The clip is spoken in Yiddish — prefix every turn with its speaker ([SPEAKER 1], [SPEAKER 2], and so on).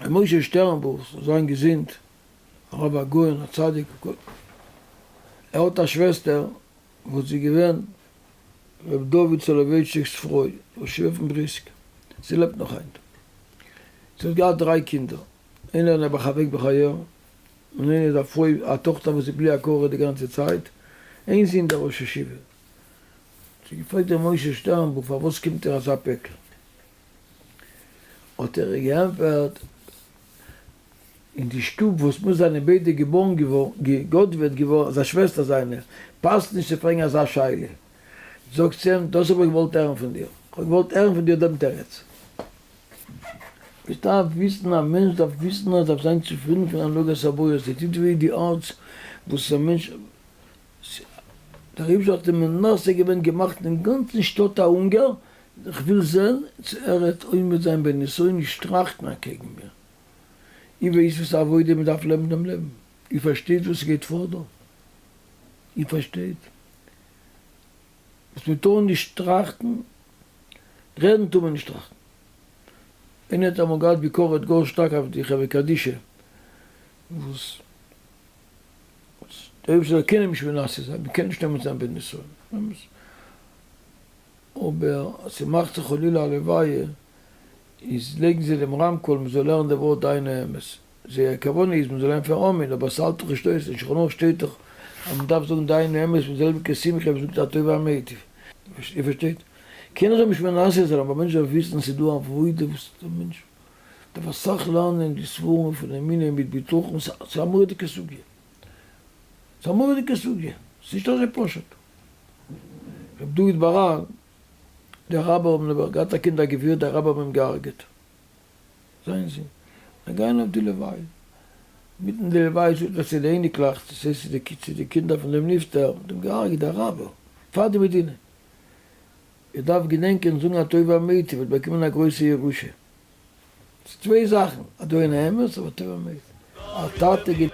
[SPEAKER 1] ר' משה שטערנבוך זאל זיין געזונט, הרב הגאון הצדיק הק', ער האט א שוועסטער וואס איז געווען ר' דוד סאלאווייטשיק'ס פרוי, ראש ישיבה פון בריסק, זי לעבט נאך היינט, זי האט געהאט דריי קינדער, איינער איז נעבעך אוועק בחייו, און איינער איז א פרוי א טאכטער וואס איז בלי הכרה די גאנצע צייט, איין זון דער ראש ישיבה, האט זי געפרעגט ר' משה שטערנבוך פארוואס קומט דיר אזא פעקל? האט ער געענפערט, אין די שטוב וואס מיר זענען ביידע געבוירן געווארן, געגאדוועט געווארן, איז א שוועסטער זיינער, פאסט נישט צו פרעגן אזא שאלה. זאגט זי אים, דאס האב איך געוואלט הערן פון דיר. כ'האב געוואלט הערן פון דיר דעם תירוץ. מ'דארף וויסן, א מענטש דארף וויסן אז דארף זיין צופרידן פון הנהגת הבורא, ס'טוט וויי די הארץ וואס א מענטש, דער אייבערשטער האט אים מנסה געווען, געמאכט דעם גאנצן שטאט א הונגער, כ'וויל זען צו ער העט עומד זיין בניסיון נישט טראכטן אקעגן מיר. איר ווייסט וואס א עבודה מען דארף לעבן דעם לעבן? איר פארשטייט וואס ס'גייט פאר דא? איר פארשטייט וואס מען טאר נישט טראכטן? רעדן טאר מען נישט טראכטן. איינער האט אמאל געהאט ביקורת גאר שטארק אויף די חברה קדישא וואס דער אויבערשטער זאל קענען נישט מנסה זיין, מען קען נישט עומד זיין בניסיון. אבער אז ס'מאכט זיך חלילה א לוויה איז לייגן זיי דעם רמקול מ'זאל הערן די ווארט דיין האמת. זייער כוונה איז מ'זאל הערן פון אמן אבער ס'האלט דאך נישט אויס אין שלחן ערוך שטייט דאך אז מ'דארף זאגן דיין האמת מיט די זעלביגע שמחה ווי מ'זאגט הטוב והמיטיב. איר פארשטייט? קענען זיי נישט מנסה זיין אבער א מענטש דארף וויסן אז ס'איז דא עבודה וואס דער מענטש דארף אסאך לערנען די ספרים פון אמונה מיט בטחון ס'איז א מורא'דיגע סוגיא. ס'איז א מורא'דיגע סוגיא, ס'איז נישט אזוי פשוט. ר' דוד באראן, דער רבי האבן נעבעך געהאט א קינד א גביר, די רבי האבן אים געהארגעט, זיין זון, זיי גייען אויף די לוויה, מיטן די לוויה זאגט ער צו די אייניקלעך, דאס הייסט צו די קינדער פון דעם נפטר, מ'האט אים געהארגעט דער רבי, פאר די מדינה, איר דארפט געדענקען זאגן א טובה אמת, איר וועט באקומען א גרויסע ירושה. צוויי זאכן א דאון א אמת אבער טוב אמת א טאטע גיט.